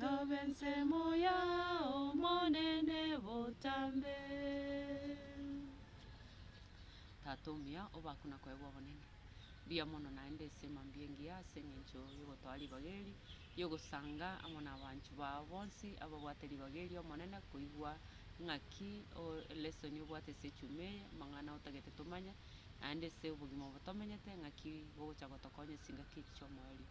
Tobe ensemo y'Omonene botambe. Tata omuya, obakwe na koegwa obonene. Mbuya mono naende esemo mbia engiya ase engencho y'ogotoa ribaga eri ri'ogosanga amo nabaanchu bao bonsi ababwate ribaga eri Omonene koigwa ng'aki lesson obwate ase echuma eye, amang'ana otagete tomanye, naende ase obogima obo tomenyete ng'aki bogocha gotokonya ase engaki echi chi'omoerio.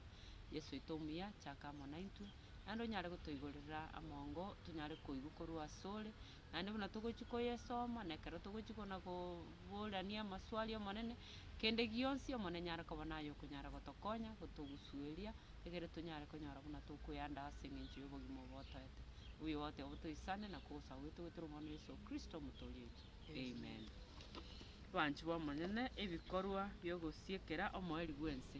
Yeso oito omuya, chaka amo naintwe, naende onyare gotoigorera amongo tonyare koigwa korwa asore. Naende buna togochia koyesoma, na ekero togochia kona koborania amaswali Omonene, kende gionsi Omonene nare koba naye okonyara gotokonya, gotogusueria, egere tonyare konyora buna tokoyanda ase eng'encho y'obogima obo otoete. Obuya obote obo toisane na kogosa gwaito goetera Omwana oito Yeso Kristo Omotoori oito. Amen. Abanchwa b'Omonene, ebikorwa bi'ogosiekera omoerio bw'ense.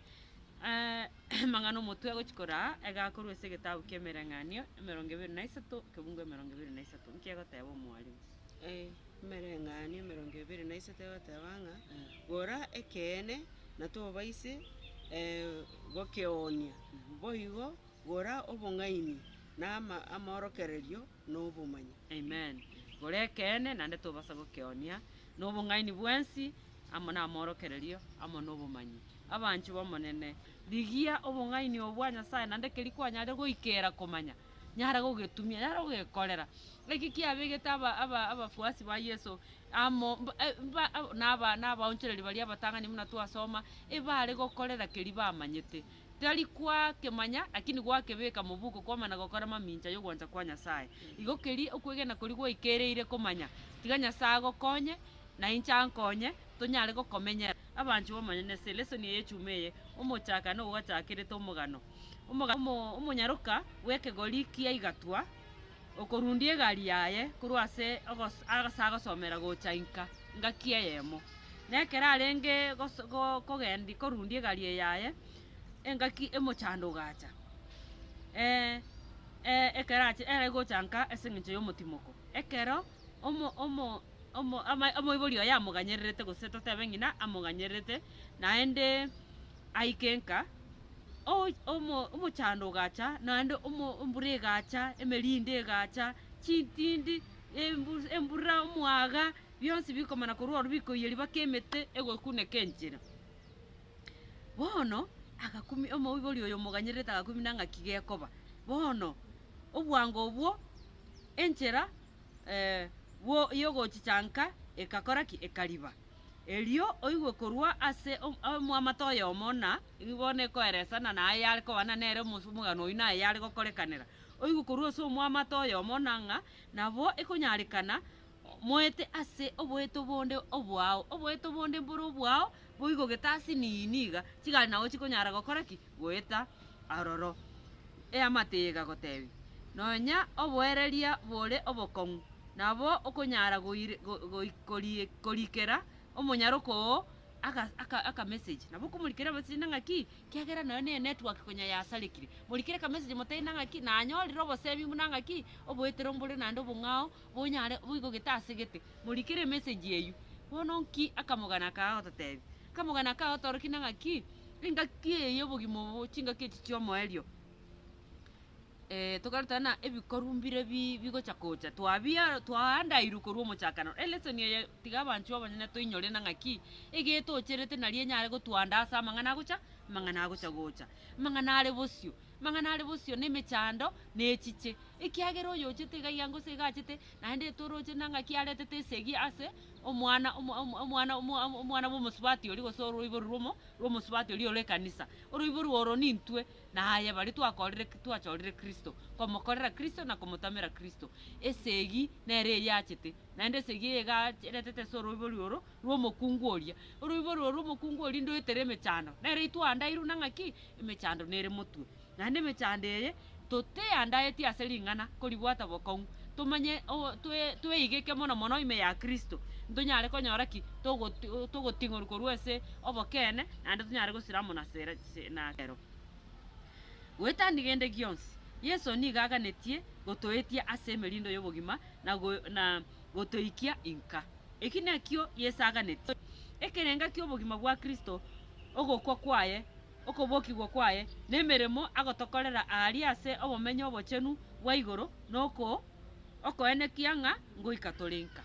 Amang'ana omotwe agochia koraa, iga korwa ase egetabu ki'emereng'anio emerongo ebere na isato, ekebugu emerongo ebere na isato. Nki egoteba omwarimu? Emereng'anio emerongo ebere na isato egoteba ng'a gora ekeene na tobaise gokeoonia, boigo gora obong'aini na ama- amaorokererio na obomanyi. Amen. Gora ekeene naende tobasa gokeoonia, Nobong'aini bwensi, amo namorokererio, amo nobomanyi. Abanchwa b'Omonene, rigia obong'aini obo bwa Nyasae, naende keria kwanyarire goikera komanya, nyara gogetumia, nyara gogekorera. Eki kiabegete abafuasi ba Yeso amo na abaonchoreria baria abatang'ani buna twasoma, ebare gokorera keria bamanyete. Tari kwakemanya, lakini gwakebeka mobuko kwamana gokora mamincha yogwancha kwa Nyasae. Igo keria okwegena koria gwaikereire komanya, tiga Nyasae agokonye, na inche ankonye, tonyare gokomenyera. Abanchwa b'Omonene, ase elesoni eye echuma eye, omochaka na ogochakerete omogano, omogano omonyaroka bw'ekegori kia igatwa, okorundia egari yaye korwa ase agosomera gocha inka, ngaki eyemo. Nekero arenge kogendia korundia egari eye yaye, engaki emochando ogacha, ekero ache ere gocha nka ase eng'encho y'omotimoko. Ekero omoibori oye amoganyererete gose totebe ng'ina amoganyererete naende aike nka, omochando ogacha naende embura egacha, emerinde egacha, chitindi, embura, omwaga. bionsi bikomana korwa ororo bikoiyia riba ki'emete egokuneka enchera. Bono agakumia omoibori oyo omoganyererete agakumia ng'aki gekoba. Bono obwango obwo enchera bwo yogochichanka egakora ki? Ekariba. Erio oigwe korwa ase omwamate oyomo ng'a nigo bono ekoeresana naye yare kobana nere omosomogano oyio naye yare gokorekanera. Oigwe korwa ase omwamate oyomo ng'a nabo ekonyarekana Moete ase oboeto bonde obwao, oboeto bonde mbore obwao, boigo gete ase nii niga chigari nao chikonyara gokora ki? Goeta aroro. Eamate eye egagotebia, Nonya oboereria bore obokong'u nabo okonyara goire- go- goi- korie- korikera omonyaroka oo aka- aka- akamessage. Nabo okomorikera emessage na ng'aki? Kiagera nonya ne enetwork konya yasarekire. Morikere akamessage motebi na ng'aki, nanyorire oboseemi buna ng'aki, oboetero mbore naende obong'ao. Bonyare boigo gete ase gete, morikere emesegi eyio. Bono nki akamogana aka agototeebia? Akamogana aka agotoorokia na ng'aki, engaki eye y'obogima obo, chingaki echi chi'omoerio, eh, tokarutana na ebikorwa mbire bi bigocha gocha, twabia twaandairwe korwa omochakano. Elesson eye tiga abanchwa abanyene toinyore na ng'aki, iga etoocherete nario enyare gotuandaa ase amang'ana agocha amang'ana agocha gocha, amang'ana are bosio. Amang'ana are bosio nemechando nechiche, ekiagera oyochete iga iga gose iga achete, naende etoroche na ng'aki aretete esegi ase omwana omo- omo- omwana omo- omo- omwana bw'omosubati oria gose oroiboro rw'omo- rw'omosubati oria ore ekanisa. Oroiboro oro nintwe naye baria twakorire ki- twachorire Kristo, komokorera Kristo na komotamera Kristo. Esegi nere eria achete, naende esegi eye iga ach- eretete ase oroibori oro rw'omokungu oria. Oroibori oro rw'omokungu oria ndoetere emechando, nere itwandairwe na ng'aki? Emechando nere motwe, naende emechando eye toteyandaeti ase ring'ana koribwata bokong'u, tomanye o- toe tweigeke mono mono ime ya Kristo, ntonyare konyora ki? Togoti togoting'orwa korwa ase obokeene, naende tonyare gosira amo nasere se na ero. Goetania gende gionsi, Yeso nigo aganetie gotoetia ase emerindo y'obogima na go na gotoikia inka. Eki nakio Yeso aganetie, ekerenga ki'obogima bwa Kristo ogokwa kwaye, okobokigwa kwaye, na emeremo agotokorera aaria ase Obomenyo Obochenu bwa igoro, na okoenekia ng'a ngoika tore nka.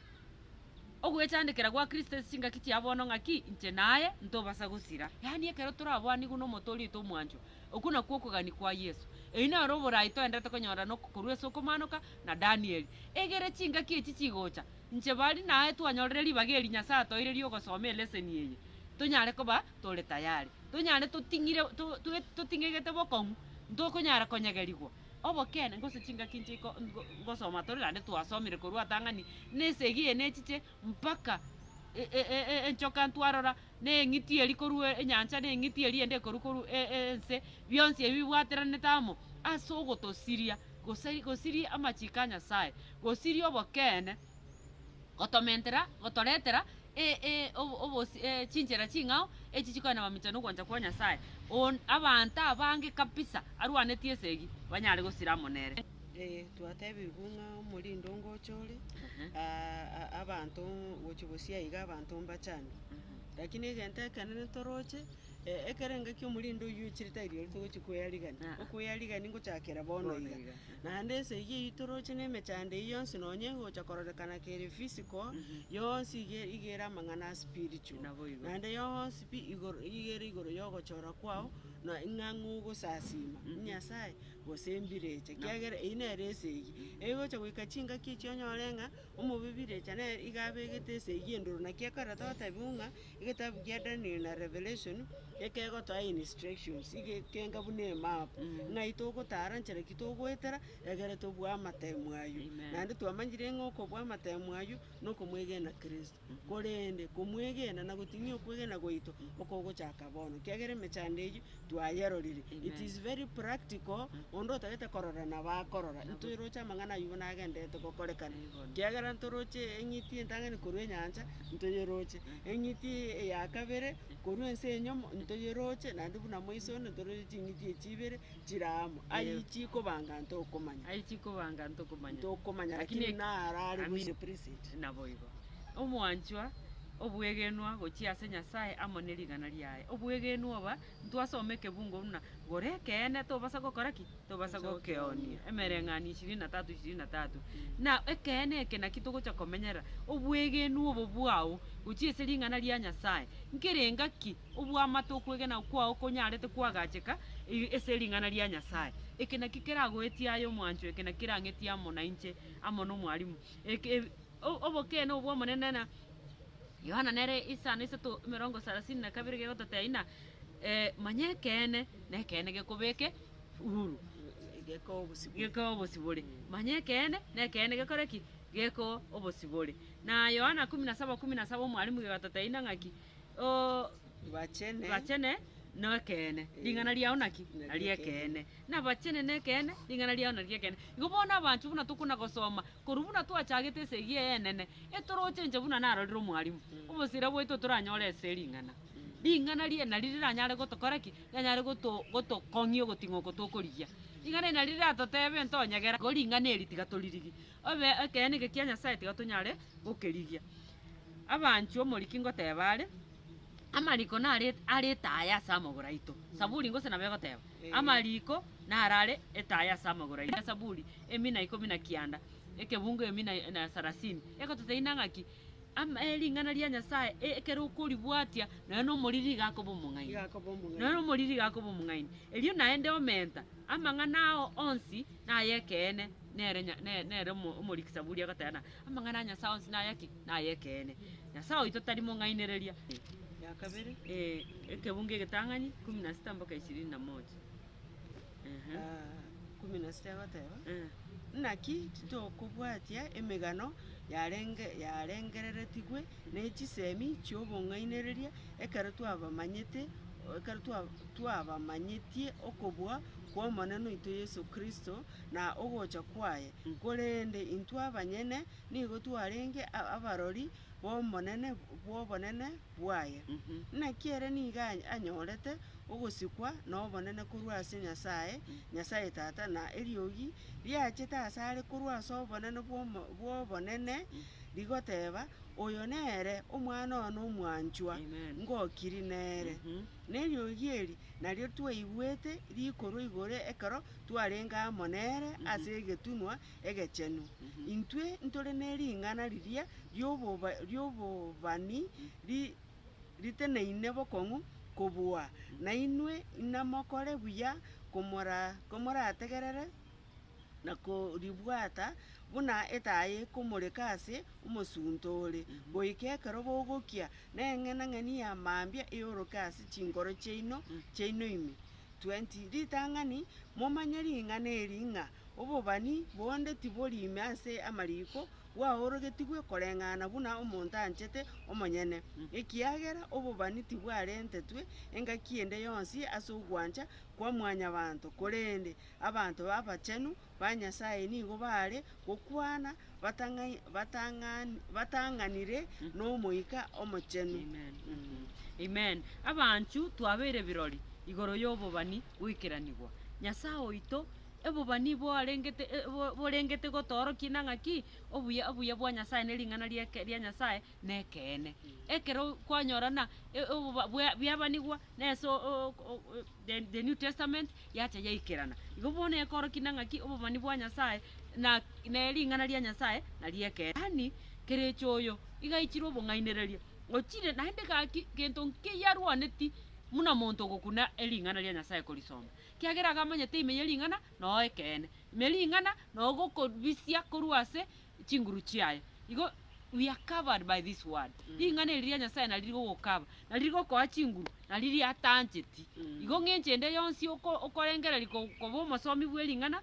Ogwechandekera gwa Kristo ase chingaki chia bono ng'aki? Inche naye ntobasa gosira. Yaani ekero torabwanigwe n'omonto orioito omwanchwa, okwo nakwo okogania kwa Yeso. Eyio nere oboraai toenderete konyora korwa ase okomanoka na Danieli. Egere chingaki echi chigocha, Inche bari naye twanyorire ribaga eri Nyasae atoeire ri'ogosoma eleseni eye, tonyare koba tore tayari, tonyare toting'ire, to, to, toting'egete bokong'u, ntokonyara konyegerigwa. Obokeene, gose chingaki inche iko ngo, ngosoma tore naende twasomire korwa atang'ani, na esegi eye nechiche mpaka e, e, e, enchoka ntwarora na eng'iti eria korwa enyancha, na eng'iti eria eyende ekorwa korwa ense, bionsi ebi bibwateranete amo ase ogotosiria, gose gosiria amachiko a Nyasae, gosiria obokeene, gotomentera, gotoretera obosi chinchera ching'ao echi chikoenda mamincha na ogwancha kwa Nyasae, abanto abange kabisa arwanetie esegi banyare gosira amo nere. Ee, twatebigwe ng'a omorindi ongocha ore, aa- a- abanto gochia gosiaa iga abanto mbachande. Lakini egento ekenene toroche, e- ekero engaki omorindi oyio oichire tari rirorio togochia koyarigania, Aa. okoyarigania ngochakera bono Bono iga. iga. Naende ense eyio eyio toroche na emechando eyio yonsi nonye egocha kororekana kere physical, yonsi iga iga ere amang'ana a spiritual. Naboigo. Naende yonsi pi igoro iga ere igoro ya ogochora kwao, na ng'a ng'ogosasiima Nyasae. gose embirecha, ekiagera eyio nere esegi. Egocha goika chingaki echio onyore ng'a omobibirecha nere iga abegete esegi endoro. Naki ekero togotebigwa ng'a egetabu kia Daniel na Revelation ekegotoa instructions egegenga buna emap, ng'ai togotara, nchera ki togoetera egere tobue amatemu ayio. Naende twamanyire ng'a okobua amatemu ayio nokomwegena Kristo. korende komwegena na gotinia okwegena gwaito okogochaka bono, kiagera emechando eyio twayerorire. It is very practical, onde otagete korora nabo akorora, intwe roche amang'ana ayio buna agendererete gokorekana, kiagera ntoroche eng'iti entang'ani korwa enyancha, ntoyeroche, eng'iti eyakabere korwa ense enyomo, ntoyeroche, naende buna moiso onde ntoroche ching'iti echi ibere. chiraamo, aye chikoba ng'anto okomanya, aye chikoba ng'anto okomanya, tokomanya, lakini lakini narare Amin. gochia preset. naboigo. Omwanchwa, obwegenwa gochia ase Nyasae amo ne rigana riaye. Obwegenwa oba, ntwasoma ekebungo buna, Gore ekeene, tobasa gokora ki? Tobasa gokeoonia. Emereng'anio ishirini na tatu ishirini na tatu. Na ekeene eke naki togocha komenyerera, obwegenwa obo bwao gochia ase ring'ana ria Nyasae, nkerenga ki? Obw'amate okwegena kwao konyarete kwagacheka ase ring'ana ria Nyasae. Eke nakio keragoetie aye omwancho, eke nakio kerang'etie amo nainche amo n'omwalimu. Eke obokeene obw'Omonene na Yohana nere isano isato emerongo sarasini na kabere gegototeina, Manya ekeene, na ekeene gekobeke huru, gekoe obosibore. Manya ekeene, na ekeene gekore ki? Gekoe obosibore. Na Yohana kumi na saba kumi na saba omwalimu gegototeina ng'aki? Obachene bachene nekeene, ring'ana riao naki? Nari ekeene. Nabachene nekeene, ring'ana riao nari ekeene. Igo bono abanchwa buna tokona gosoma, korwa buna twachagete ase eyio eyenene, etorochenche buna narorire omwalimu, obosira bwaito toranyore ase ring'ana. Ring'ana riria nari riranyare gotokora ki? Riranyare goto gotokong'ia ogoting'o oko tokorigia. Ring'ana eri nari riratotebe ntonyegera, igo ring'ana eri tiga toririgi. Obe ekeene eke kia Nyasae tiga tonyare gokerigia. Abanchwa, omoriki ngoteba are, Amariko nare are etaaya ase amagoro aito. Saburi gose nabo egoteba, Amariko nare are etaaya ase amagoro aito. Esaburi emi na ikomi na kianda, ekebungo emi na na sarasini egototeina ng'a ki? Ama ering'ana ria Nyasae e- ekero okoribwatia nonya na omoriri iga akoba omong'aini. Iga akoba omong'aini. Nonya na omoriri iga akoba omong'aini. Erio naende omenta amang'ana ao onsi naye ekeene. Nere nya, ne- nere omo- omoriki Saburi agateba ng'a, Amang'ana a Nyasae onsi naya ki? Nay'ekeene. Nyasae oito tari mong'ainereria. Ya kabere. Eh, Ekebungo Egetang'ani, kumi na sita mpaka ishirini na moja. Ehe. Ah, kumi na sita egoteba, Eh. Naki titokobwatia emegano yarenge yarengereretigwe ne chisemi chi'obong'ainereria ekero twabamanyete ekero twa- twabamanyetie okobua kw'Omonene oito Yeso Kristo, na ogocha kwaye, korende intwe abanyene nigo twarenge abarori b'obonene bw'obonene bwaye. Naki ere nigo anyorete ogosikwa nobonene korwa ase Nyasae, Nyasae Tata, na eriogi riachete asare korwa ase obonene bw'obonene rigoteba, Oyo nere Omwana one omwanchwa, ngokiri nere. Neriogi eri nario twaigwete rikorwa igoro ekero twarenge amo nere ase egetunwa egechenu, intwe ntore ne ring'ana riria ri'oboba ri'obobani ri riteneine bokong'u kobua nainwe, inamokore buya komora komorategerere na koribwata, buna etaa ekomoreka ase omosunte ore, goika ekero bogokia, na eng'enang'eni ya mambia eoroke ase chinkoro chiaino chiaino ime, 20 ritang'ani, momanye ring'ana eri, ng'a obobani bonde tibori ime ase amariko, bwaorogetigwe koreng'ana buna omonto anchete omonyene, ekiagera obobani tibwarentetwe engaki ende yonsi ase ogwancha kwa mwanyabanto, korende abanto abachenu ba Nyasae nigo baare gokwana batang'anire n'Omoika Omochenu. Abanchw, twabeire birori igoro y'obobani bw'ikeranigwa. Nyasae oito, obobani borengete gotoorokia na ng'aki? Obuya bwa Nyasae ne ring'ana ria Nyasae nekeene. Ekero kwanyorana bweabanigwa nese The New Testament, yacha yaikerana. Igo bono ekoorokia na ng'aki obomani bwa Nyasae na ne ring'ana ria Nyasae nari ekeene. Yaani, Kericho oyo igaichire obong'ainereria, ochire naende gaki gento nkiya arwaneti muna monto ogokuna ering'ana ria Nyasae korisoma, kiagera iga amanyete ime ye ring'ana noo ekeene. Ime ring'ana noo gokobisia korwa ase. chinguru chiaye. Igo we are covered by this word. Mm. Ring'ana eri ria Nyasae nari rigogokaba, nari rigokoa chinguru, nari riatancheti. Mm. Igo ng'enche ende yonsi okorengereri koba omosomi bwe ring'ana,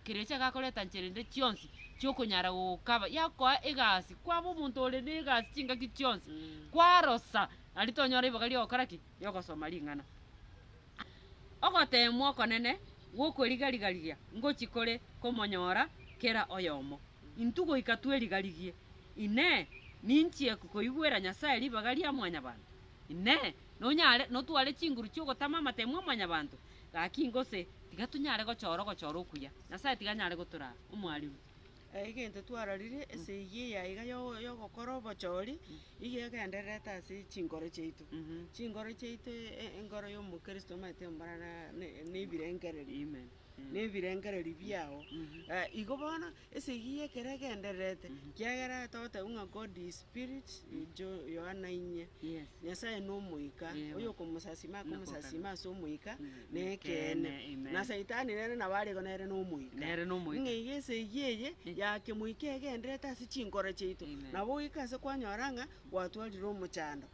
kerecha gakoreta nchera ende chionsi chiokonyara gogokaba, yakoa egasi, kwaba omonto ore na egasi chingaki chionsi. Mm. Kwarosa, nari tonyora ribaga riogokora ki? Riogosoma ring'ana. Ogoteemwa okonene gw'okorigarigaria ngochia kore komonyora kera oyomo. Intwe goika twerigarigie, Inee, ninchie koigwera Nyasae ribaga ria mwanyabanto? Inee, nonyare notware chinguru chi'ogotama amateemwa a mwanyabanto? Gaki ingo se, tiga tonyare gochora ogochora okuya. Nyasae tiga anyare gotoraa, omwariru. Egento twarorire, ase eyio eya iga yo- yogokora obochori, nigo egendererete ase chinkoro chiaito. Chinkoro chiaito e- enkoro ya omokristo omanyete mborana ne- nebirengererio. Amen. Mm. Nebirengererio biago. Eh, igo bono, ase eyio ya ekero egendererete, kiagera togotebiwa ng'a God is spirit, Jo- Yohana inye. Yes. Nyasaye nomoika, Ewa. oyo okomosasima akomosasima ase omoika, Nekeene, na Saitani nere nabo arigwa nere nomoika. Ng'a iga esegi eye ya kemoika egendererete ase chinkoro chiaito, na goika ase kwanyora ng'a gwatwarire omochando,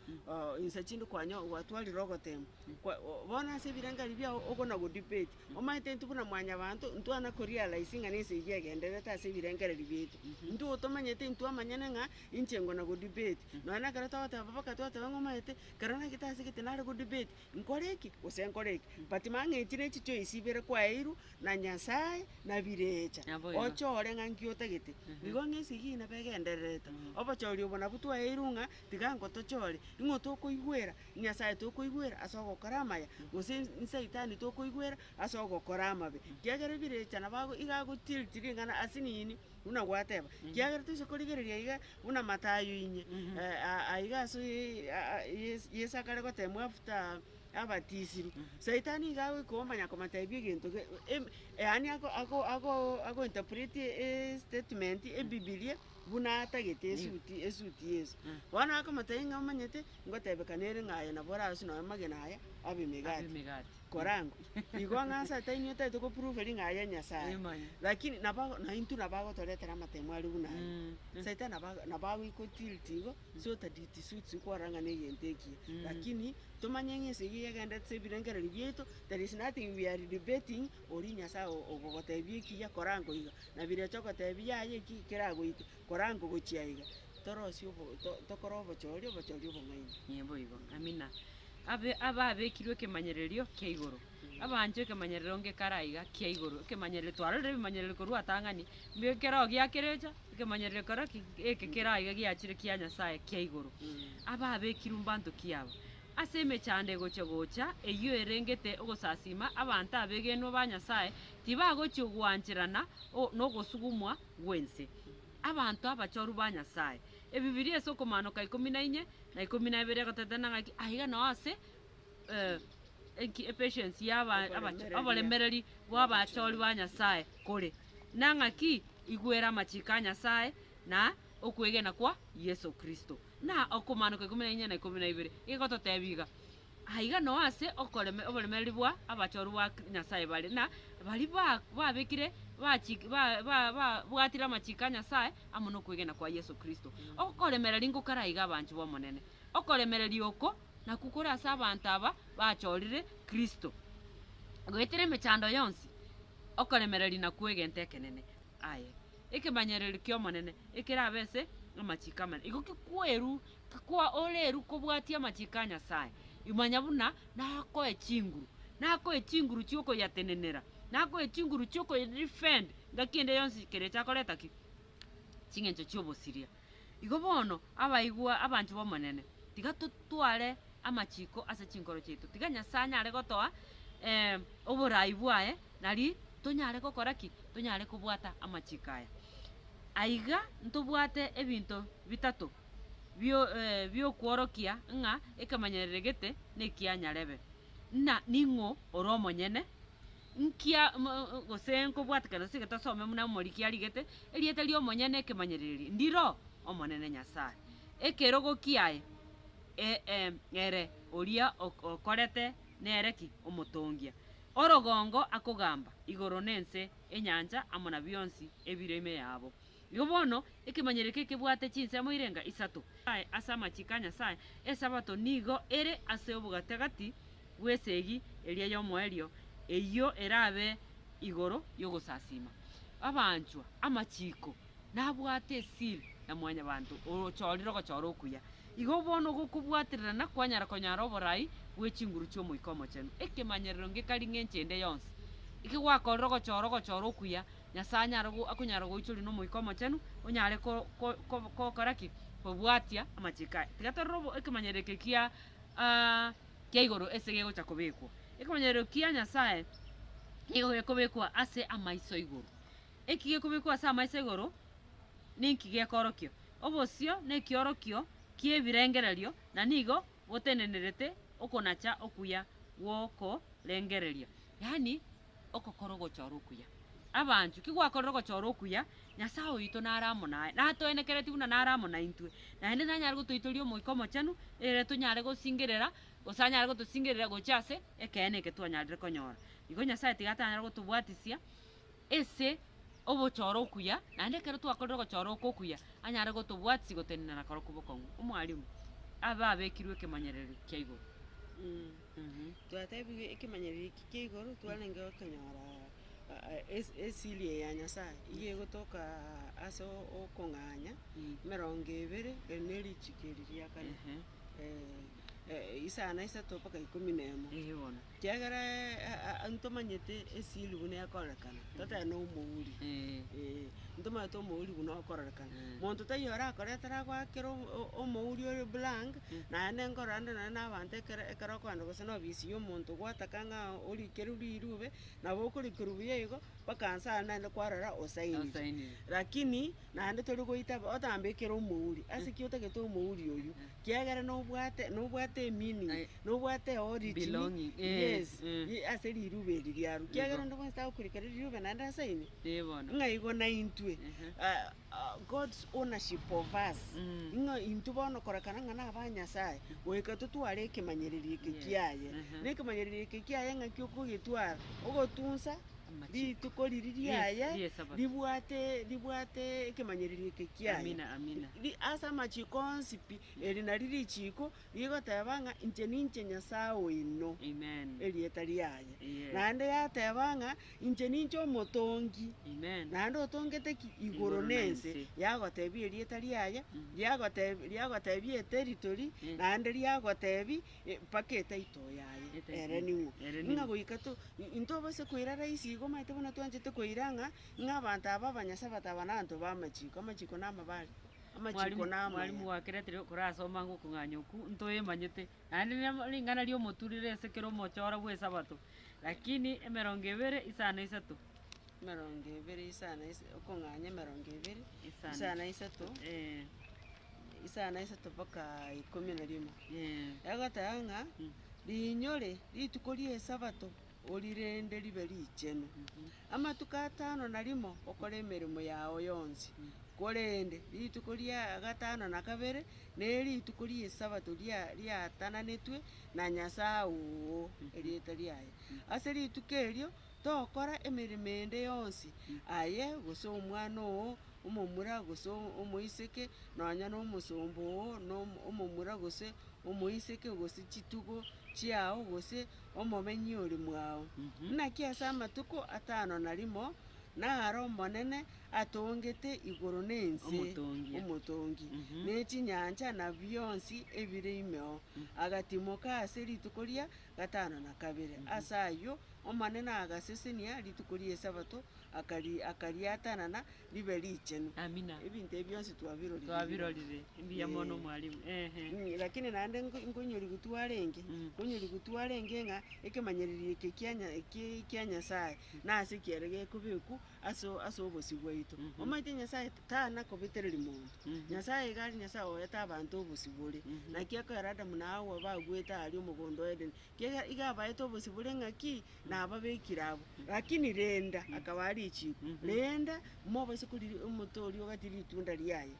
insa chinde kwanyo gwatwarire ogoteemwa. Kwa bono ase ebirengari biao okona go debate, omanyete intwe buna mwanyabanto ntwana ko realize ng'a nesegi egendererete ase ebirengereri biaito. Intwe otomanyete intwe omanyene ng'a inche ngona go debate, nonya nekero togoteba papa aka twateba ng'a omanyete, kero nagete ase egete nare go debate, Nkore eki, gose nkore eki? But mang'enchie ne chichoice ibere kwaeirwe na Nyasae na birecha, Naboigo. ochore ng'a nki otagete. Nigo ng'a esigina iga egendererete. Obochori obo nabwo twaeirwe ng'a tiga ngotochore, ing'o tokoigwera Nyasae tokoigwera ase ogokora amaya, gose nsaitani tokoigwera ase ogokora amabe. Kiagera ebirecha nabo ago iga agochiriri ring'ana ase nini? Buna gwateba, kiagera toise korigereria iga, buna Matayo inye, aiga ase Yeso akare goteemwa after abatisirwe. Saitani nigo agoika omanya komoteebia egento yaani ago interpret estatement ebibilia buna atagete esuti esuti ya Yeso. Bono akomotebia ng'a omanyete, ngotebeka nere ng'a aye nabo oraswe nonya amagena aya, abe emegati. korangwa. Igo ng'anse ata inwe tari ko prove ring'ana ria Nyasaye? Lakini nabo na intwe nabo agotoretera amatemo aria buna aye. Saitani nabo ago nabo agoiko tilt igo, suta dit suits kwarora ng'a negento ekiya. Lakini tomanye ng'a ense eyio egenderete ase ebirengererio biaito, there is nothing we are debating oria Nyasaye o- o- ogotebia ekiya, korangwa iga. Nabirechokotebia yaye ki keragoike. Korango gochia iga, torosie obo, to, tokore obochori, obochori obong'aini. Ee, boigo. Amina. Abe, ababekirwe ekemanyererio kia igoro, abaanchwa ekemanyererio onge kare aiga kia igoro, ekemanyererio, twarorire ebimanyererio korwa atang'ani, mbio ekeroo giakerecha, ekemanyererio kero ki? Eke kere aiga giachire kia Nyasaye kia igoro. Ababekirwe mbanto ki aba? Ase emechando egochia gocha, eyio erengete ogosasiima, abanto abegenwa ba Nyasaye tibagochia ogwancherana o, nogosugumwa, bw'ense, abanto abachoru ba Nyasae. Ebibilia ase okomanoka ikomi na inye na ikomi na ibere egotetenena ng'aki aiga nao ase enki epatience ya oboremereri bw'abachori ba Nyasae kore, na ng'aki igwere amachiko a Nyasae na okwegena kwa Yeso Kristo. Na okomanoka ikomi na inye na ikomi na ibere egototebia iga, Aiga no ase oboremereri bwa abachorwa ba Nyasae bare, na baria babekire babwatire amachiko a Nyasae amo nokwegena kwa Yeso Kristo. Okoremereri inko karaiga abanchwa b'Omonene. Okoremereri oko nakwo kore ase abanto aba bachorire Kristo. Goetera emechando yonsi, okoremereri nakwo egento ekenene. Aye. Ekemanyererio ki'Omonene ekerabe ase amachiko amanene. Igo kikwerwa Kwa oreru kobwatia amachiko a Nyasae, imanya buna nakoe chinguru, nakoe chinguru chiokoyatenenera, nakoe chinguru chiokoyedefend ngaki ende yonsi keria echakoreta ki? Ching'encho chi'obosiria. Igo bono, abaigwa abanche b'Omonene, tiga totware amachiko ase chinkoro chiaito, tiga Nyasae anyare gotoa eh, oboraai bwaye, nari tonyare gokora ki? Tonyare kobwata amachiko aya. Aiga ntobwate ebinto bitato. bio biokworokia ng'a ekemanyererio gete nekia nyarebe, na ning'o ore omonyene, nkia mo- o- gose nkobwatekana ase egento asome buna omoriki arigete, erieta ri'omonyene ekemanyererio ndiro Omonene Nyasae. Ekerogo kiaye e- em ere oria ok- okorete nere ki? Omotongia. Orogongo akogamba igoro na ense, enyancha amo na bionsi ebire ime yabo. Igo bono, ekemanyero eke kebwate chinsemo irenga isato. Aye ase amachiko a Nyasae, Esabato nigo ere ase obogatagati bw'esegi eria y'omoerio, eyio erabe igoro y'ogosasiima. Abanchwa, amachiko nabwate esiri ya Mwanyabaanto ochoorire ogochoora okuya. Igo bono ogokobwatererana kwanyara konyara oborai bwe chinguru chi'Omoika Omochenu. Ekemanyererio ngekari ng'enchende yonsi, eke gwakorire ogochoora ogochoora okuya, Nyasae anyare akonyara goichoria n'Omoika Omochenu, onyare gokora ki? Kobwatia amachiko aye. Tiga torore ekemanyero eke kia kia igoro ase gegocha kobekwa. Ekemanyero kia Nyasae nigo gekobekwa ase amaiso igoro. Eki gekobekwa ase amaiso igoro, ninki gekoorokia? Obosio na ekiorokio ki'ebirengererio na nigo botendenerete okonacha okuya gw'okorengereria. Yaani. ogokora ogochora okuya. Abanchwa, ki gwakorire ogochora okuya? Nyasae oito nare amo naye, natoenekereti buna nare amo naintwe, naende nanyare gotoitoria Omoika Omochenu, ere tonyare gosingerera, gose anyare gotosingerera gochia ase ekeene eke twanyarire konyora. Igo Nyasae tiga atanyare gotobwatisia ase ogochora okuya, naende ekero twakorire ogochora oko okuya, anyare gotobwatisi gotenenera korokwo bokong'u. Omwalimu, abe abekirwe ekemanyererio kia igoro. Twatebigwe ekemanyererio eki kia igoro, twarenge gokonyora esiri eye ya Nyasaye, eyio egotoka ase okong'anya emerongo ebere na erichiko eri ria kane, isano na isato mpaka ikomi na emo. Ekiagera ntomanyete esiri buna ekorekana. totebe nomouri, eh, ntomanyete omouri buna okorerekana. Monto taiyo orakoretere agoakere o- o- omouri ore blank, naye nengoo rande nonye na abanto ekero ekero okogenda gose na ofisi ya omonto gwataka ng'a orikerwe rirube, nabo okorikerwa buya igo, mpaka nsa aria naende kwarora osainire. Osainire. Rakini, naende tori goita bo- otambekere omouri. Ase ki otagete omouri oyio? Kiagera nobwate nobwate emeaning Aye. Nobwateoo ritini, yes, ase riruba eri riarwa, kiagera onde bwensi tagokurika riri riruba naende ase ime, ng'a igo naintwe God's ownership of us, ng'a intwe bono korekana ng'a naba Nyasaye, goika totware ekemanyererio eke kiaye, na ekemanyererio eke kiaye ng'aki okogetwara, ogotunsa rituko riri riaye ribwate ribwate ekemanyererio eke kiaye, ri ase amachiko onsi pi, eri nari richiko Nigo teba ng'a inche ninche Nyasae oino, erieta riaye, naende yateba ng'a inche ninche omotongi, naende otongete ki? Igoro na ense, yagotebia erieta riaye, riagotebia riagotebia eteritori, naende riagotebia mpaka etitle yaye ere nigo. Ng'a goika to intobasa koira rahisi igo omanyete buna twanchete koira ng'a ng'a abanto aba abanyasae bataba nabaanto b'amachiko, amachiko namabare. Amachiko namaya. Mwalimu gwakereterire okora ase omoango okong'anya okwo ntoemanyete, naende nere ring'ana ri'omoturire ase kera omochora bw'Esabato, lakini emerongo ebere isano isato. Emerongo ebere isano isa- okong'anya emerongo ebere Isano. isano isato, Ee. isano isato mpaka ikomi na rimo. Ee. Egoteba ng'a riinyore rituko ri'Esabato orirende ribe richenu. Amatuko atano na rimo okore emeremo yao yonsi, korende rituko ria gatano na kabere nerituko ri'Esabato riatananetwe na Nyasae oo erieta riaye. Ase rituko erio tokora emeremo ende yonsi, aye, gose omwana oo, omomura gose omoiseke, nonya nomosomba oo, omomura gose omoiseke, gose chitugo chiao, gose. omobenyi ore mwao. Naki ase amatuko atano na rimo naro Omonene atongete igoro na ense, Omotongi. Omotongi, ne chinyancha na bionsi ebire imeo, agatimoka ase rituko ria gatano na kabere. Ase ayio Omonene agasesenia rituko ri'Esabato, akari akariatanana ribe richenu. Amina. Ebinto ebi bionsi twabirorire. Twabirorire. Mbuya mono mwalimu. Ehe. Mm, lakini naende nko- nkonyorigu twarenge Mm. nkonyorigu twarenge ng'a ekemanyererio eke kia Nya- ki- kia Nyasaye nase kiere gekobekwa ase o- ase obosio bwaito. Mhm. Omanyete Nyasaye t- tana kobetereri monto, Mhm. Nyasaye iga are Nyasaye oete abanto obosio bore. Mhm. Naki ekero Adamu na Hawa bagwete aria omogondo o Edeni, Kiagera iga abaete obosio bore ng'a ki? Nababekire abwo. Lakini renda, akabaa richiko, renda, mobaise koriria omote oria ogatirie ritunda riaye,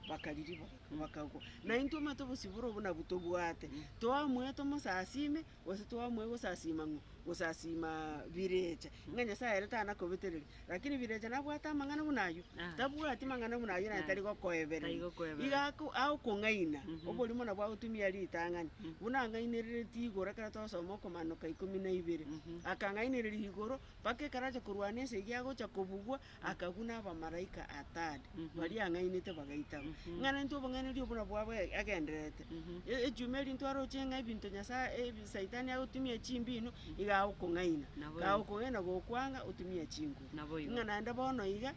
bakaririba, bakagwa. Na intwe omanyete obosio bore obo nabwo tobwate, toamoe tomosasime, gose toamoe gosasima ng'o? Gosasima birecha, ng'a Nyasaye ere tanakobetereria. Lakini Vilecha nabwate amang'ana buna ayio? Tabwati mang'ana buna ayio naende tari gokoebereria. Iga agokong'aina, oborimo nabwo agotumia ritang'ani, buna ang'ainereretie igoro ekero twasoma Okomananoka ikomi na ibere. Akang'ainereria igoro mpaka ekero acha korwana ense eyio agocha kobugwa, akagwa na abamalaika atano baria ang'ainete bagaitagwa. Ng'a naintwe obong'ainereria obwo nabwo abwo agendererete. Echuma eria ntwaroche ng'a ebinto Nyasaye, Saitani agotumia chimbino iga agokong'aina, Naboigo. iga agokong'aina gokwanga otumie chinguru. Naboigo. Ng'a naende bono iga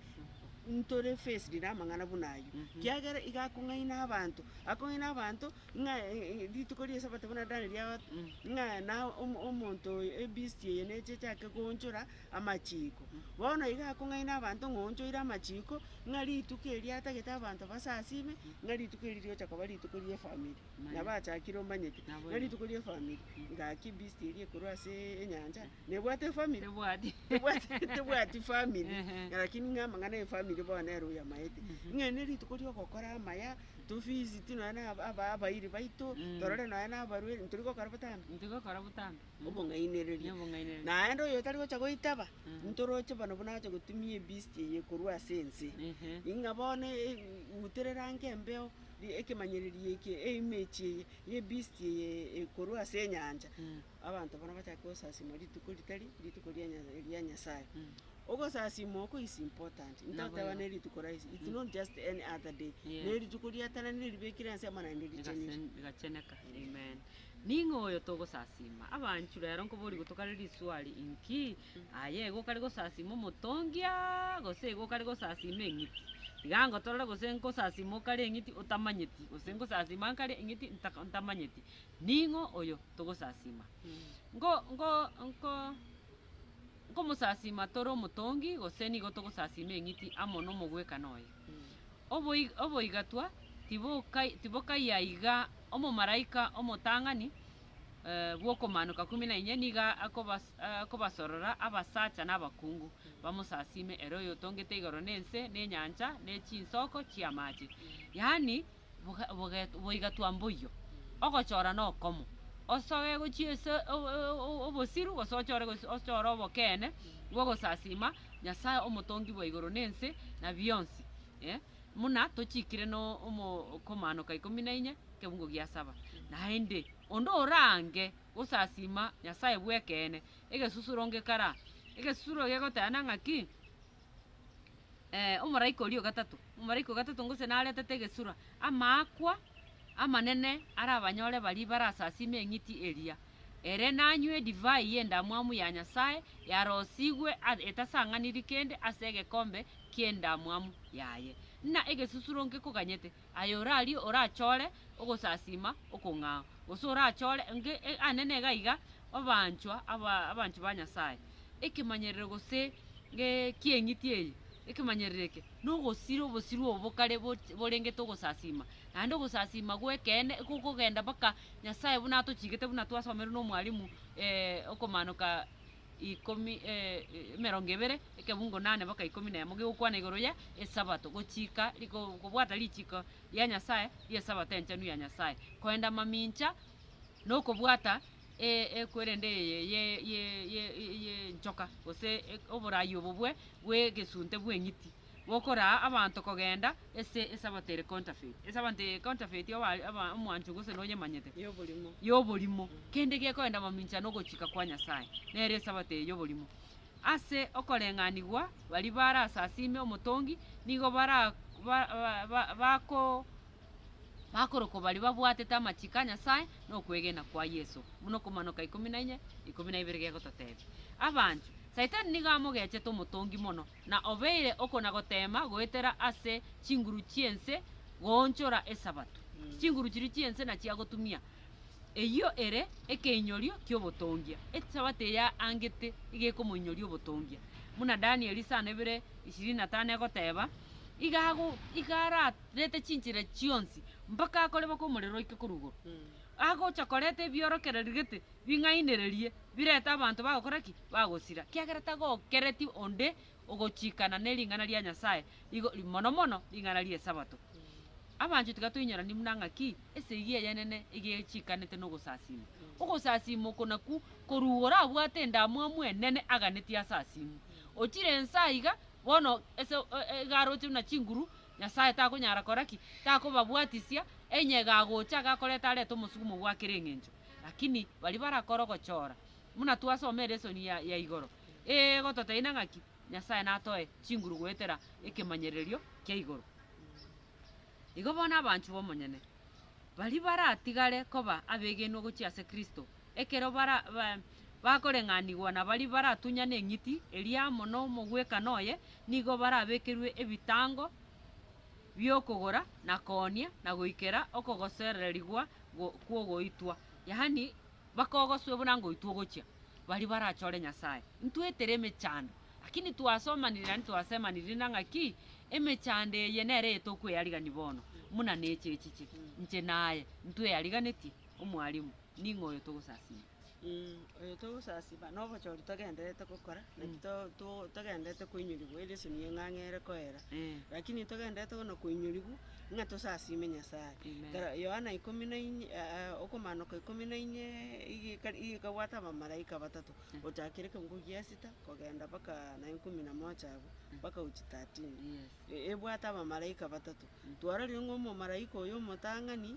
ntore faced namang'ana buna ayio, kiagera iga akong'aina abanto, akong'aina abanto ng'a e- e- rituko ria esabato buna Daniel riagote, ng'a na omo- omonto oyo ebeast eye neche echake koonchora amachiko. Bono iga akong'aina abanto ng'a oonchoire amachiko, ng'a rituko erio atagete abanto basasime, ng'a rituko erio riocha koba rituko ri'efamiri. nabo achakire omanyete, Naboigo. na rituko ria efamiri, ngaki beast eria ekorwa ase enyancha, nebwate efamiri? Tebwati. Tebwati- tebwati family, Ehe. lakini ng'a amang'ana ya efamiri bono nere oyamaete. Ng'a ne rituko ria ogokora amaya, to visit nonya na aba- aba- abairi baito, Mm. torore nonya na abarwre, ntori gokora botambe? Ntigokora botambe. Mm. Obong'ainereria. Nobong'ainereria. Naende oyo otari gocha goitaba, Mm. ntoroche bono buna ache gotumia ebeast eye ekorwa ase ense. Ehe. Ng'a bono e- e- uterera ango embeo. ekemanyererio eke, emechie eye, y'ebisti eye ekorwa ase enyancha, abanto barabwo mbachake gosasiima rituko ritari rituko ria Nya- ria Nyasaye. Ogosasiima oko is important, ntoteba ne rituko rahisi, it's not just any other day, Yes. ne rituko riatananire ribekire ase amang'ana richenire. Rigase- rigacheneka, amen. Ning'o oyo togosasiima? Abanchu rero nkoboria gotokare riswali, Inki Aye egokwa ri gosasima omotongia, gose egokwa ri gosasima eng'iti? Iga ngotorore gose nkosasima okare eng'iti otamanyeti, gose nkosasima nkare eng'iti ntaka ntamanyeti, ning'o oyo togosasima? Ngo ngo nko nkomosasima tore omotongi, gose nigo togosasima eng'iti amo na omogwekano oye? Oboi oboigatwa tibokai tibokaiya iga omomalaika omotang'ani. bw'okomaanoka kumi na inye nigo akobas- eh, akobasorora abasacha na abakungu, bamosasiime ere oyotongete igoro na ense, na enyancha, na chinsoko chi'amaache. Yaani, boga- boget- boigatwa mboyio, ogochora nokomo. Osoe gochia ase o- o- o- obosiru, gose ochore gose ochore obokeene, bw'ogosasiima Nyasae omotongi bwa igoro na ense, na bionsi, eh. Buna tochiikire no omo- okomaanoka ikomi na inye. ekeungo gia saba. Naende, onde oraange gosasiima Nyasae bw'ekeene, egesusuro ngekara. Egesusuro gegoteana ng'aki, eh, omolaika oria o gatato, omolaika o gatato gose naretete egesura, amaakwa amanene arabanyore baria barasasiime eng'iti eria. Ere nanywe edivai y'endamwamu ya Nyasae, yarosigwe a- etasang'aniri kende ase egekombe ki'endamwamu yaye. Ng'a egesusuro ngekoganyete, Aye orarie orachore ogosasiima okong'ao, gose orachore enke ande nega iga obaanchwa aba abanchwa ba Nyasae. Ekemanyerero gose ge kieng'iti eye, ekemanyerero eke, nogosira obosiru obo bokare boch borengete ogosasiima, naende ogosasiima gw'ekeene ekogogenda mpaka Nyasae buna atochigete buna twasomerwe na omwalimu okomanoka ikomi, emerongo ebere, ekebungo nane boka ikomi na emo, gegokwana igoro ya Esabato, gochika riko kobwata richiko ria Nyasae ri'Esabato enchenu ya Nyasae, koenda mamincha na okobwata ekwerende eye ye ye ye ye ye enchoka, gose oborai obo bwe bw'egesunte bw'eng'iti. Gokoraa abanto kogenda ase esabato ere counterfeit. Esabato eye counterfeit oba are oba omwancho gose nonyemanyete. Y'oborimo. Y'oborimo. Kende gekoenda mamincha nogochika kwa Nyasaye, nere esabato eye y'oborimo. Ase okoreng'anigwa baria barasasiime omotongi nigo bara ba ba bako bakorokwa baria babwatete amachiko a Nyasaye na okwegena kwa Yeso, buna Okomanoka ikomi na inye, ikomi na ibere gegototebia. Abanchwa, Saitani nigo amogechete omotongi mono. na obeire okona-goteema goetera ase chinguru chi'ense goonchora Esabato, chinguru chiria chi'ense nachiagotumia. Eyio ere ekeinyorio ki'obotongia. Esabato eya angete iga ekomoinyoria obotongia. Buna Danieli isano ibere ishirini na tano egoteeba, iga ago iga ararete chinchera chionsi mpaka akorebokwa omorero oike korwa igoro. Agocha koreta ebiorokererio gete bing'ainererie, birete abanto bagokora ki? Bagosira, kiagera tagokereti onde ogochikana ne ring'ana ria Nyasae, igo mono mono ring'ana ri'Esabato. Abanchwa, tiga toinyoranie buna ng'aki esegi eyenene egechikanete nogosasima. Ogosasima oko nakwo koruga orabwate endamwamu enene aganetie asasimu. Ochire ense aiga, bono ase iga aroche buna chinguru, Nyasae takonyara kora ki? Takobabwatisia, enyega agocha iga akoreta arete omosugumo bwakera eng'encho. Lakini baria barakora ogochora, buna twasoma elesoni ya ya igoro, egototeina ng'aki Nyasae natoe chinguru goetera ekemanyererio kia igoro. Igo bono abanchwa b'omonyene, baria baratigare koba abegenwa gochia ase Kristo, ekero bara ba bakoreng'anigwa na baria baratunyane eng'iti eria amo nomogwekano oye, nigo barabekerwe ebitango bi'okogora, na koonia, na goikera okogosererigwa go- kw'ogoitwa, yaani bakogoswe buna ngoitwa ogochia, baria barachore Nyasae. Ntwetire emechando, lakini twasomaniri yaani twasemaniri na ng'aki, emechando eye nere eye tokweyarigani bono, muna neche echiche. Inche naye ntweyariganetie, Omwalimu, ning'o oyo togosasiima? oyo togosasiba na obochori togendererete gokora, naki to- to- togendererete koinyorigwa ere esoni ya eng'ang'a ere koera, rakini ntogendererete bono koinyorigwa ng'a tosasime Nyasaye. Kara Yohana ikomi na inye okomaanoka ikomi na inye iga ekari iga ekabwata abamalaika batato, gochakera ekeongo gia esita kogenda mpaka naye ikomi na moja abwo, mpaka gochia thirteen. E- ebwate abamalaika batato. Twarorire ng'a omomalaika oyo omotang'ani,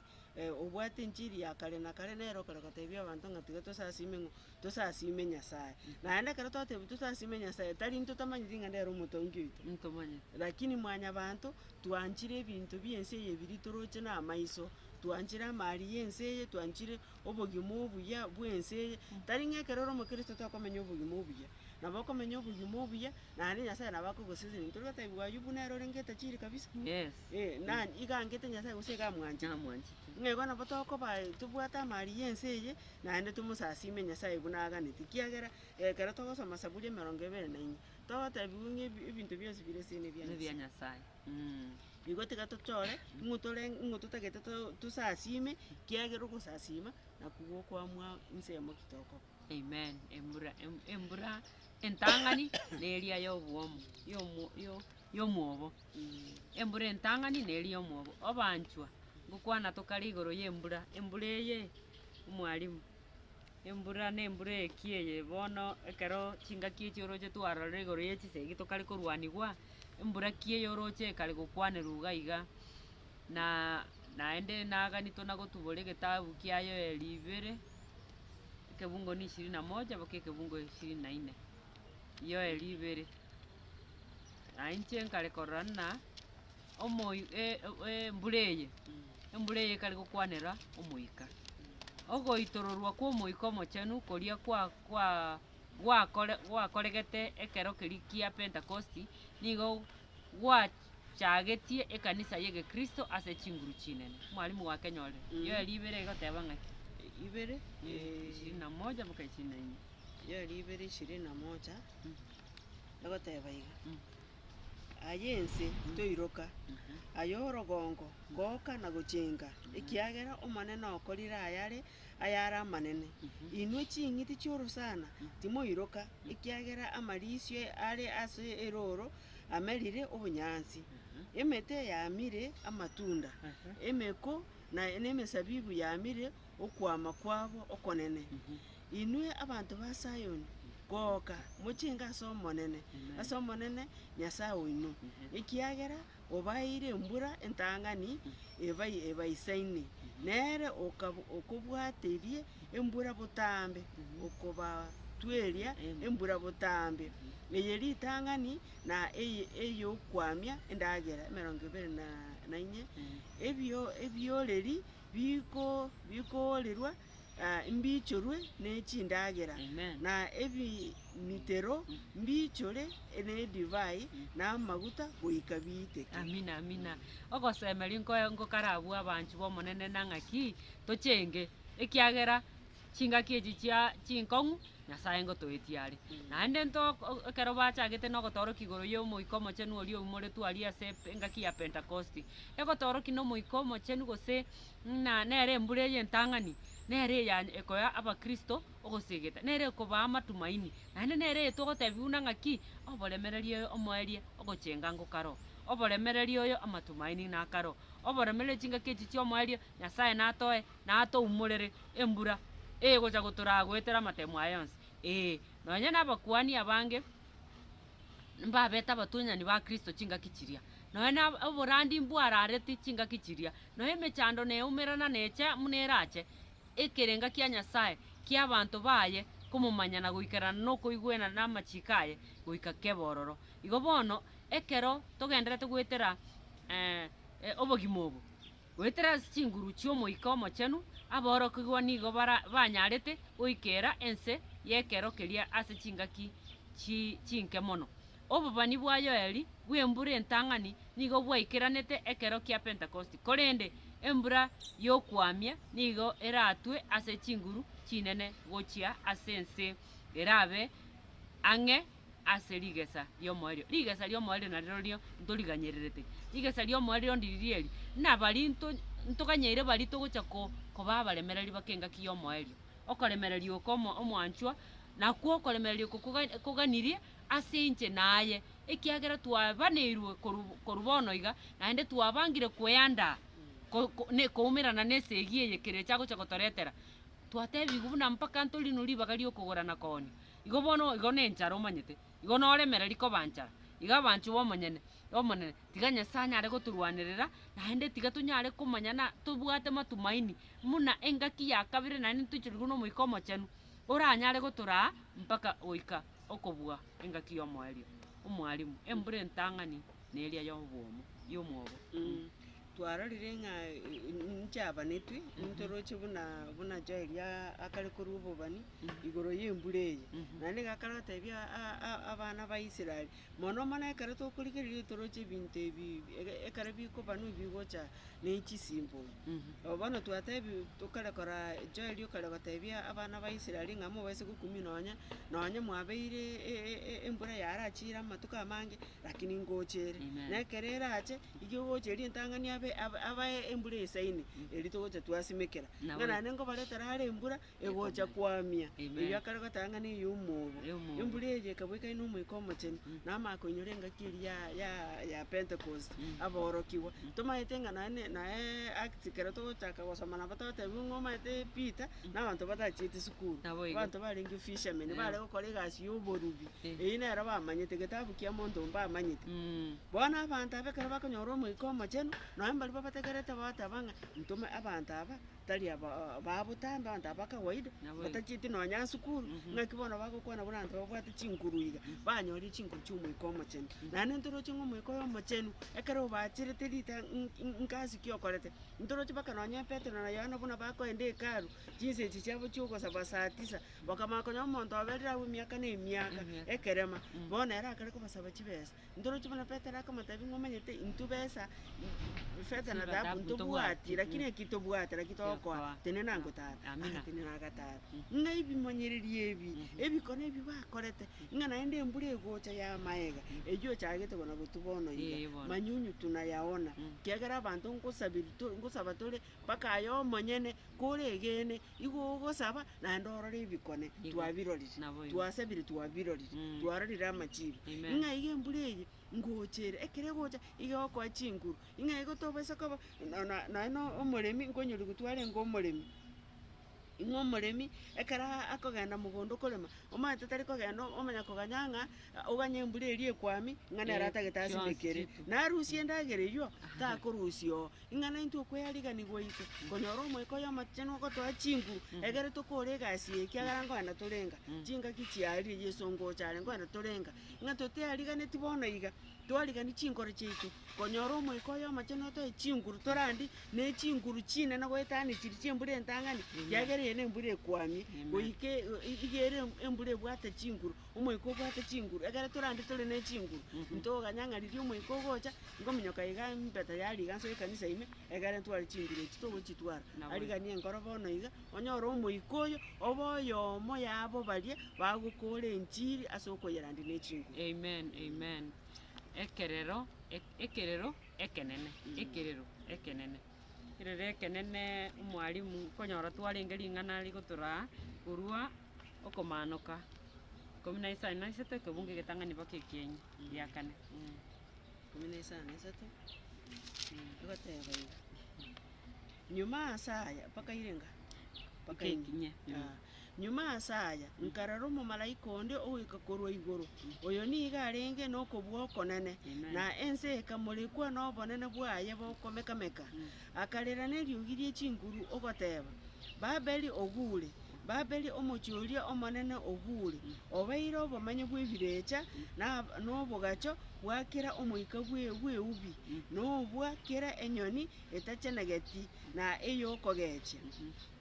obwate enchiri ya kare na kare nere okare gotebia abanto ng'a tiga tosasime ng'o, tosasime Nyasaye. Naende ekero twateba tosasime Nyasaye, tari ntotamanyeti ng'a nere omotongi oito, ntomanyeti, lakini mwanyabanto, twanchire ebinto bi'ense eye biria toroche namaiso, twanchire amari y'ense eye, twanchire obogima obuya bw'ense eye, tari ng'a ekero ore omokristo tokomenya obogima obuya, nabo okomenya obogima obuya, naende Nyasaye nabo akogoseseneti. Torigotebiwa Ayubu nere ore ng'etajiri kabisa. Ee, na igaangete Nyasae gose igamwanchete? Namwanchete. Ng'a igo nabo tokoba tobwate amaari y'ense eye, naende tomosasiime Nyasae buna aganete. Ekiagera ekero togosoma Saburi emerongo ebere na ime, togotebiwa ng'a ebi- ebinto bionsi bire ase nebia Nebia Nyasae. Nyasae. Igo tiga tochore ng'o tore ng'o totagete to- tosasiime, ekiagera ogosasiima nakwo gokwamua ensemo ki tokoba. Amen, embura em- embura entang'ani neria yobwomo, yomo- yo- yomwobo. Embura entang'ani neri yomwobo. Obaanchwa, ngokwana tokare igoro y'embura, embura eye omwalimu. Embura na embura eye ki eye bono ekero chingaki echi oroche twarorire igoro ye chisegi tokare korwanigwa, embura ki eye oroche ekare gokwanerwa iga iga. Na naende naganito na gotubora egetabu kia Yoel ibere, ekebungo ne ishirini na moja mpaka ekebungo ishirini na ine. Yoel ibere. Naye inche nkare korora ng'a omoyo e- e- embura eye, embura eye ekare gokwanera omoika. Ogoitororwa kw'omoika omochenu koria kwa- kwa- gwakore gwakoregete ekero keria kia Pentekosti, nigo gwachagetie ekanisa y'egekristo ase chinguru chinene. Mwalimu gwakenyorire. Erio eria ibere egoteba ng'aki? ibere Ishirini na moja mpaka ishirini na inye. Eria ibere ishirini na moja. egoteba iga, Aye ense, toiroka, aye orogongo, goka na gochenga, ekiagera Omonene okorire ayare ayare amanene. Inwe ching'iti chi'orosana, timoiroka, ekiagera amariisio are ase erooro amerire obonyansi. Emete yamire amatunda, emeko na emesabibu yamire okwama kwabo okonene. Inwe abanto ba Sayoni, goka, mochenge ase Omonene, ase Omonene, Nyasae oino, ekiagera obaeire embura entang'ani ebaisaine, nere okobwateria embura botambe, okobatweria embura botambe, eye ritang'ani na ey'okwamia endagera, emerongo ebere na inye, ebioreri bikoorerwa mbiichorwe nechindagera, na ebimitero mbiichore nedivai na amaguta goika biiteke. Amina, amina. Ogosemeria nkoe ngokarabue abanchwa b'Omonene na ng'aki tochenge, ekiagera chingaki echi chia chinkong'u Nyasaye ngotoetie are. Naende nto ekero bachagete na ogotoorokia igoro y'Omoika Omochenu oria oumoretwe aria ase engaki ya Pentakosti, egotoorokia na Omoika Omochenu gose Ng'a nere embura eye entang'ani, nere eya ekoya abakristo ogosegeta, nere ekobaa amatumaini, naende nere eye togotebia buna ng'a ki, Oboremereri oyo omoerie ogochenga ngokaro, oboremereri oyo amatumaini nakaro, oboremereri chingaki echi chi'omoerio Nyasae natoe, natoumorere embura egocha gotoraa goetera amatemo aya onsi, ee, nonya nabakuani abange. mbabete abatunyani ba Kristo chingaki chiria, nonya na oborandi mbwarareti chingaki chiria, nonya emechando neumerana neche buna erache, ekerenga kia Nyasae ki'abanto baye komomanya na goikerana nokoigwena namachiko aye goika kebororo. Igo bono, ekero togendererete goetera obogima obo. Goetera ase chinguru chi'Omoika Omochenu, aborokigwa nigo banyarete goikera ense y'ekero keria ase chingaki chinke mono. Obobani bwa Yoeli bw'embura entang'ani nigo bwaikeranete ekero kia Pentekosti, korende embura y'okwamia nigo eratwe ase chinguru chinene gochia ase ense erabe ang'e. ase rigesa ri'omoerio. Rigesa ri'omoerio narerorio ntoriganyererete. Rigesa ri'omoerio ndiriri eri, nabari nto ntoganyeire bari togocha ko koba abaremereri bake engaki y'omoerio. Okoremereria oko omo omwanchwa, nakwo okoremereria oko koga koganirie ase inche naye, ekiagera twabaneirwe korwa korwa bono iga, naende twabangire kweandaa ko ko ne koumerana na esegi eye kere echagocha gotoretera. Twatebigwe buna mpaka ntorino ribaga ri'okogora na koonia. Igo bono igo nenchara omanyete, igo noremereri koba nchara, iga abanchwa b'omonyene Omonene, tiga Nyasae anyare gotorwanerera, naende tiga tonyare komanya na tobwate matumaini buna engaki ya kabere naende ntoichorigwe n'Omoika Omochenu, oranyare gotoraa mpaka goika okobua engaki y'omoerio. Omwalimu, embura entang'ani neria y'obwomo, y'omwobo. Twarorire ng'a ninche abanetwe, nintoroche buna buna Joeli a- akare korua obobani igoro y'embura eye. Naende ngakana gotebia a- a- abana ba Israel, mono mono ekero tokorigereria toroche ebinto ebi ege- ekero bikobanwa bigocha ne chisimbogio. Nabo bono twatebiwu tokare kora Joeli okare gotebia abana ba Israel ng'a mobase gokumia nonya nonya mwabeire e- e- e- embura yarachire amatuko amange, Naki ningochere, na ekero erache, iga egocha eria entang'ani abe ab- abae embura esaine, erio togocha twasimekera. Ng'a naende nkobaretera are embura egocha koamia, erio akare gotang'ana ey'omoobo. Embura eria ekabua ekaina Omoika Omochenu, na amaako enyora engaki eria ya- ya- ya Pentecost, aborokigwa. Tomaete ng'a naende naye Acts ekero togochaka gosoma nabo totebigwe ng'a omaete Peter, na abanto batachieti sukuru. Naboigo. Abanto barenge fishermen, bare gokora egasi y'oborubi. Eyio nero bamanyete, getabu kia monto mbamanyete. Bono abanto aba ekero bakonyora Omoika Omochenu, nonya mbaria babategerete bagateba ng'a, Ntome abanto aba, tari aba ba botambe, abanto aba ba kawaida, batachieti nonya asukuru, ng'aki bono bagokwana buna abanto babwate chinguru iga, banyoria chinguru chi'Omoika Omochenu. Naende ntoroche ng'a Omoika oyo Omochenu, ekero obaacherete rita ng- ng- ngasi ki okorete, ntoroche mpaka nonya Petero na Yohana buna bakoenda Hekalu, chinsa echi chiabo chi'ogosaba saa tisa, Bakamanya konya omonto oberire agwo emiaka na emiaka, ekerema, bono ere akare kobasaba chibesa. Ntoroche buna Petero akamotebia ng'a omanyete intwe besa, ifeta na dhahabu ntobwati, lakini eki tobwate naki togokoa, tenena ngotare. Agatenena agatara. Ng'a ebimonyererio ebi, ebikone ebi bakorete, ng'a naende embura egocha y'amaega, eyio ochagete buna gotwa bono iga, manyunyu tunayaona, ekiagera abanto nkosabirie to- nkosaba tore mpaka aye omonyene, kore egeene, Igo ogosaba naende orore ebikone twabirorire, twasabire twabirorire, twarorire amachibi. Ng'a iga embura eye ngocha ere, ekero egocha iga egokoa chinguru, ng'a igo tobasa koba nonye na omoremi, nkonyoria gu twarenge omoremi, ng'a omoremi ekero akogenda mogondo korema, omanyete tari kogenda omanya koganya ng'a oganye embura eria ekwami, ng'a nere atagete asibekere. Narusia endagera eyio, takorusia oo, Ing'ana intwe okweyariganigwa gwaito, nkonyora Omoika oy'Amatuchene ogotoa chinguru, egere tokore egasi eye, ekiagera nkoenda torenga. Chingaki chiarire, Yeso ngocha are, nkoenda torenga. Ng'a toteyariganeti bono iga, twarigani chinkoro chiaito, nkonyora Omoika oy'Amachenu otoe chinguru torandie, ne chinguru chinene goetana chiri chi'embura entang'ani, ekiagera eye nembura ekwamie, goika e- e- iga ere embura ebwate chinguru. omoika obwate chinguru, ekero torande tore ne chinguru, ntoganya ng'a riria omoika ogocha, ngominyoka iga empeta ya riga ase ekanisa ime, ekere ntware chinguru echi togochitwara. Arigania enkoro bono iga, onyore omoika oyo, obe oyomo yabo baria bagokora enchiri ase okoyerandia ne chinguru. Amen, amen. Ekerero, e- ekerero ekenene, ekerero ekenene. erere ekenene omwalimu okonyora twarenge ring'ana rigotoraa korwa okomanoka ikomi na isano na isato ekebungo egetang'ani mpaka ekienyi gia kane. Ikomi na isano na isato, egoteba iga, Nyuma ase aya, mpaka irenga? Mpaka ekinye. Nyuma ase aya nkarora omomalaika onde ogoika korwa igoro, oyo nigo arenge nokobua okonene, na ense ekamorekwa nobonene bwaye bokomeka-meka, akarera neriogi rie chinguru, ogoteba, Babeli oguure, Babeli omochie oria omonene oguure, obeire obomenyo bw'ebirecha, na nobogacho bwa kera omoika bw'eubi, nobwa kera enyoni etachenegeti na ey'okogechia.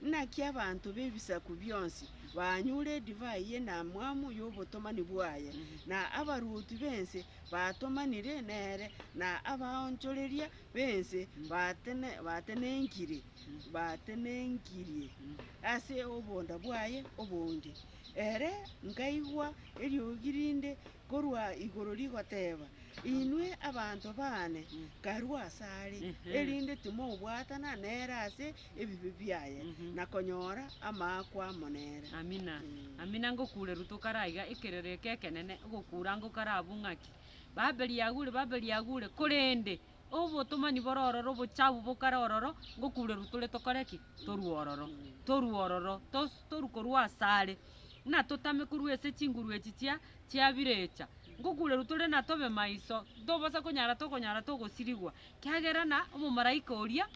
Naki abanto b'ebisaku bionsi banyure edivai y'enamwamu y'obotomani bwaye, na abaruoti b'ense batomanire nere, na abaonchoreria b'ense batenenkirie ase obonda bwaye obonge. Ere nkaigwa eriogi rinde Korwa igoro rigoteeba, Inwe abanto baane, nkarue asare, erinde timobwatana nere ase ebibe biaye, na konyora amaakwa amo nere. Amina, amina, ngokuure ruto kare aiga, ekerero eke ekenene, ogokuura ngokare abwo ng'aki? Babeli yaguure, Babeli yaguure, korende obotomani bore ororo, obochafu bokare ororo, ngokureru tore tokore ki? Torue ororo, torue ororo, tos- torue korwa asare, buna totame korwa ase chinguru echi chia chia birecha, ngokureru tore na tobe maiso, tobosa konyara tokonyara togosirigwa, kiagera na omomalaika oria.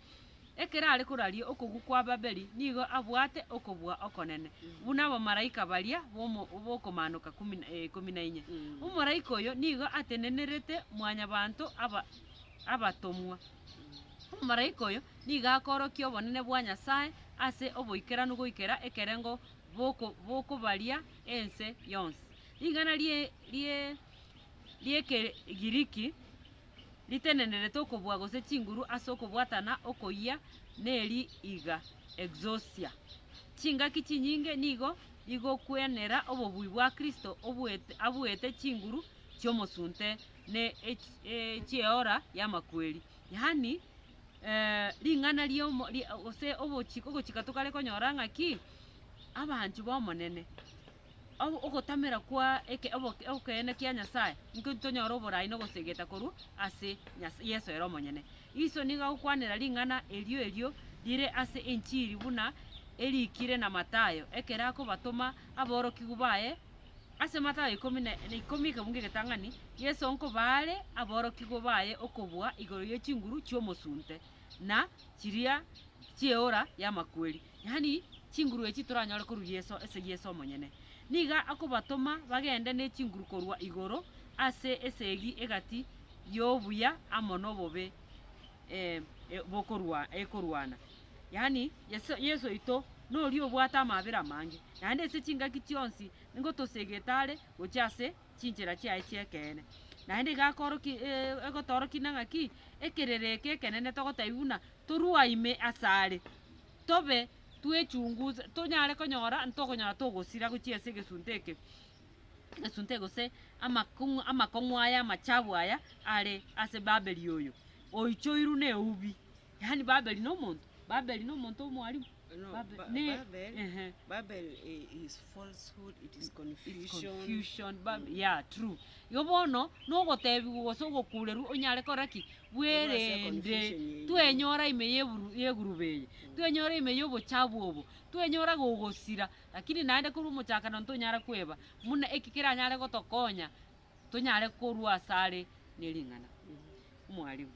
Ekero are koraria okogwa kwa Babeli nigo abwate okobua okonene, buna abamalaika baria b'okomaanoka ikomi na inye. Omoraika oyo nigo atenenerete Mwanyabaanto abatomwa. Omomalaika oyo nigo akoorokia obonene bwa Nyasae ase oboikeranu goikera ekerengo bokobaria ense yonsi. Ring'ana ri'Ekegiriki. ritenenenete okobua gose chinguru ase okobwatana okoyia neri iga, exousia. Chingaki chinyinge nigo igokwenera obobui bwa Kristo obuete, abuete chinguru chi'omosunte ne chieora y'amakweri, yaani eh, ring'ana riomo gose ogochika tokare konyora ng'aki abanchu b'Omonene. ogotamera kwa ekeene kia Nyasae, inko titonyora oboraai na ogosegeta korwa ase Yeso ere omonyene. Iso nigo agokwanera ring'ana erio erio rire ase enchiri buna erikire na Mathayo, ekero akobatoma aborokigwa baye. Ase Mathayo ikomi na ikomi ekebungo egetang'ani, Yeso nkobaare aborokigwa baye okobua igoro ye chinguru chi'omosunte na chiria chi'eora y'amakweri. Yaani, chinguru echi toranyore korwa Yeso ase Yeso omonyene. Nigo akobatoma bagende ne chinguru korwa igoro ase esegi egati y'obuya amo nobobe bokorwa ekorwana. Yaani, Yeso Yeso oito noria obwate amabera amange, naende ase chingaki chionsi nigo tosegete are gochia ase chinchera chiaye chi'ekeene. Naende iga akoroki egotoorokia ng'a ki, ekerero eke ekenene togotebi buna Torua ime asare, tobe twechunguze, tonyare konyora ntokonyora togosira gochia ase egesunte eke, egesunte gose amakong'u amakong'u aya amachabu aya are ase Babeli oyo oichoirwe na eubi. Yaani Babeli na omonto? Babeli na omonto omwarimu? Igo bono nogotebigwa gose ogokurerwa onyare kogora ki? Bwerende. Twenyora ime yeguruba eye, twenyora ime yobochabu obo, twenyora gogosira, rakini naende korwa omochakano ntonyara kweba buna eki keranyare gotokonya. Tonyare korua asare ne ring'ana. Omwalimu.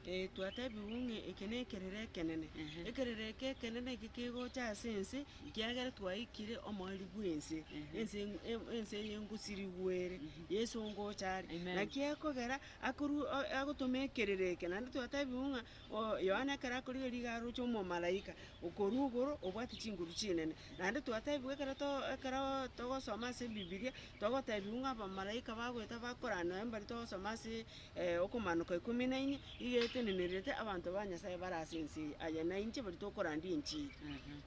Ee, twatebigwe ng'a eke nekerero ekenene. Ekerero eke ekenene eke kegocha ase ense, kiagera twaikire omoerio bw'ense, ense en- en- ense eye engosirigwe ere, Yeso ngocha are. Amen. Naki akogera akorwa o- agotoma ekerero eke, naende twatebigwe ng'a oo Yohana ekero akorigia rigao aroche omomalaika okorwa igoro obwate chinguru chinene. Naende twatebigwe ekero to- ekero togosoma ase ebibiria, Togotebiwa ng'a abamalaika bagoeta bakorana noyo mbari togosoma ase Okomaanoka ikomi na ine, iga etenenerete abanto ba Nyasae bare ase ense eye, aye nainche baria tokorandia enchili.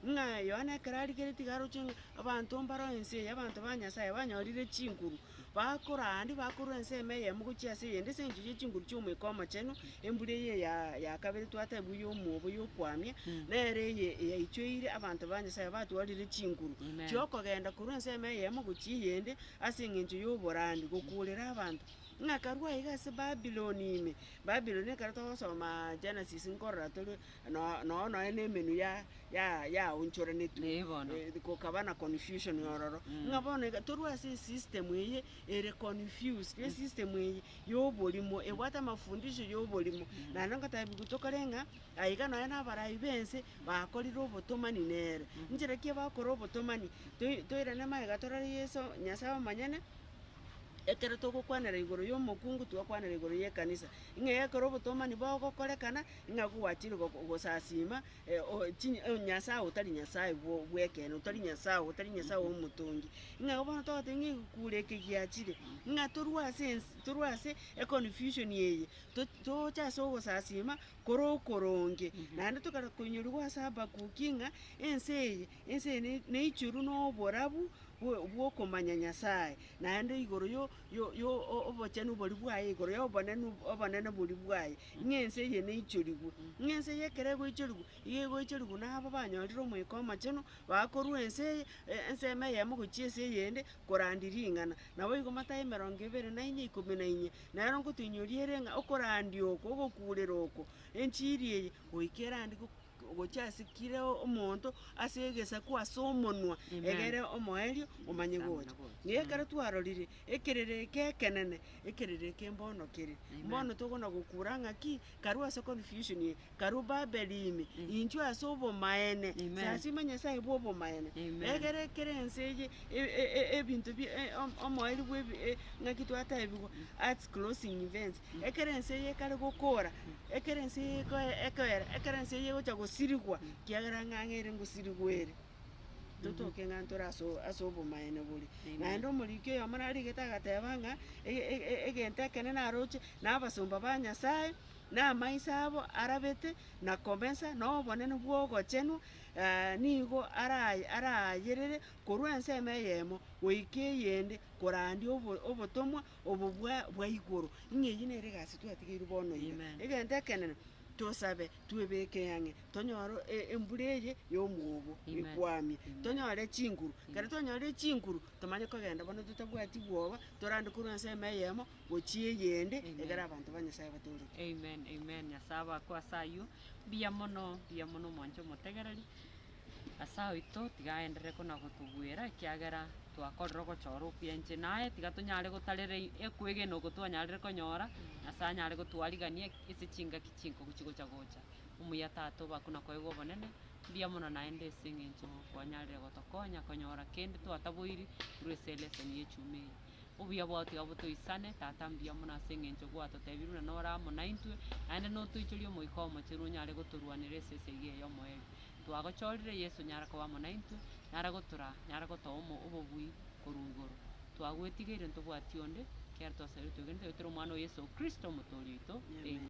Ng'a Yohana ekero arigeretie iga aroche ng'a abanto mbaro ense eye, abanto ba Nyasae banyorire chinguru, bakorandi bakorwa ensemo eyemo gochia ase eyende ase engencho ye chinguru chi'Omoika Omochenu, Embura eye ya kabere twatebwa y'omwobo y'okwamia, nere eye eyaichoire abanto ba Nyasae batwarire chinguru chi'okogenda korwa ensemo eyemo gochia eyende ase engencho y'oborambe gokuurera abanto. Ng'aka rwa iga ase Babiloni ime, Babiloni ekero togosoma Genesis nkorora tore noo nonya na emenwa ya ya yaonchoranetwe gokaba na confusion ororo. Ng'a bono iga torue ase esystem eye ere confused, esystem eye y'oborimo, ebwate amafundisho y'oborimo, naende ngotaebigwe tokore ng'a aiga nonya nabaraai b'ense bakorire obotomani nere. Inchera ki abakora obotomani? Toi- toirane magega torore Yeso, Nyasae omonyene, ekero togokwanera igoro y'omokungu twakwanera igoro y'ekanisa, ing'ee ekero obotomani bogokorekana, ing'aa kogwachire go- gosasiima Nyasae otari Nyasae bw'ekeene, otari Nyasae, otari Nyasae omotongi. Ng'a igo bono togotebi ng'a egekuuru eke giachire, ng'a torue ase ense torue ase econfusion eye, to- toche ase ogosasiima kore okoronge. Naende tokare koinyoriwa ase Habakuki ng'a ense eye, ense eye ne- neichoru na oborabu bwo- bwokomanya Nyasae, naende igoro yo- y'obochenu boria bwaye igoro y'obonene boria bwaye, ng'a ense eye neichorigwe. Ng'a ense eye ekero egoichorigwa, igo egoichorigwa na aba banyorire omoika omochenu, baye korwa ense eye, ensemo eyemo gochia ense eyende, korandi ring'ana. Nabo igo matayo emerongo ebere na inye ikomi na inye, nero nkotoinyoriere ng'a okorandia oko, ogokurera oko, enchiri eye, goika erande. Gochia ase kira omonto, ase egesaku, ase omonwa, egere omoerio, omanye gocha. Na ekero twarorire ekerere eke ekenene, ekerere eke mbono kere. Mbono tokona gokura ng'a ki? Karue ase confusion eye, karue Babeli ime, inchwe ase obomaene, sasima Nyasaye bwa obomaene. Egere kere ense eye e- e- e- ebinto bie e- o- omoerio bwa ebi e- ng'aki twatebigwa, earth's closing events, Ekero ense eye ekare gokoora, ekero ense eye ekoe- ekoera, ekero ense eye egocha gosirigwa, ekiagera ng'ang'a ere ngosirigwa ere, totoke ng'a ntore ase o- ase obomaene boria. Naende omoriki oyomo narigete agateba ng'a e- e- e- egento ekene naroche, na abasomba ba Nyasaye, na amaiso abo arabete, na komesa, na obonene bwa ogochenwa, nigo ara- araayerere korwa ensemo eyemo goika eyende, korandia obo- obotomwa. obobua bwa igoro. Ng'a eyio nere egasi twatigeirwe bono iga. Amen. Egento ekenene, tosabe, twebeke ang'e, tonyore e- embura eye y'omwobo Amen. ekwamie, Amen. tonyore chinguru. Ekero twanyorire chinguru, tomanye kogenda bono totabwati bwoba, torande korwa ase eema eyemo gochia eyende, Amen. egere abanto ba Nyasaye batooreke. Amen, amen. Nyasae abakwe ase ayio. Mbuya mono, mbuya mono omonche omotegereri. Ase oito tiga aenderere konagotobuera, ekiagera twakorire ogochora okuya inche naye, tiga tonyare gotarera ekwegena oko twanyarire konyora, Nyasae anyare gotwarigania ase chingaki chinkongu chigocha gocha. Omuya Tata obo akwo nakoegwe obonene, mbuya mono naende ase eng'encho kwanyarire gotokonya konyora kende twataboiri korwa ase eleseni y'echuma eye. Obuya bwao tiga botoisane, Tata mbuya mono ase engencho gwatotebirie buna nore amo naintwe, naende notoichorie Omoika Omochenu onyare gotorwanera esese eyio eyomo eri twagochorire, Yeso nyare koba amo naintwe, nare gotora, nare gotoa omo obobui korwa igoro. Twagwetigeire ntobwati onde, ekiagera twasabeire twegenete, oyo tore Omwana o Yeso Kristo, Omotoori oito. Amen.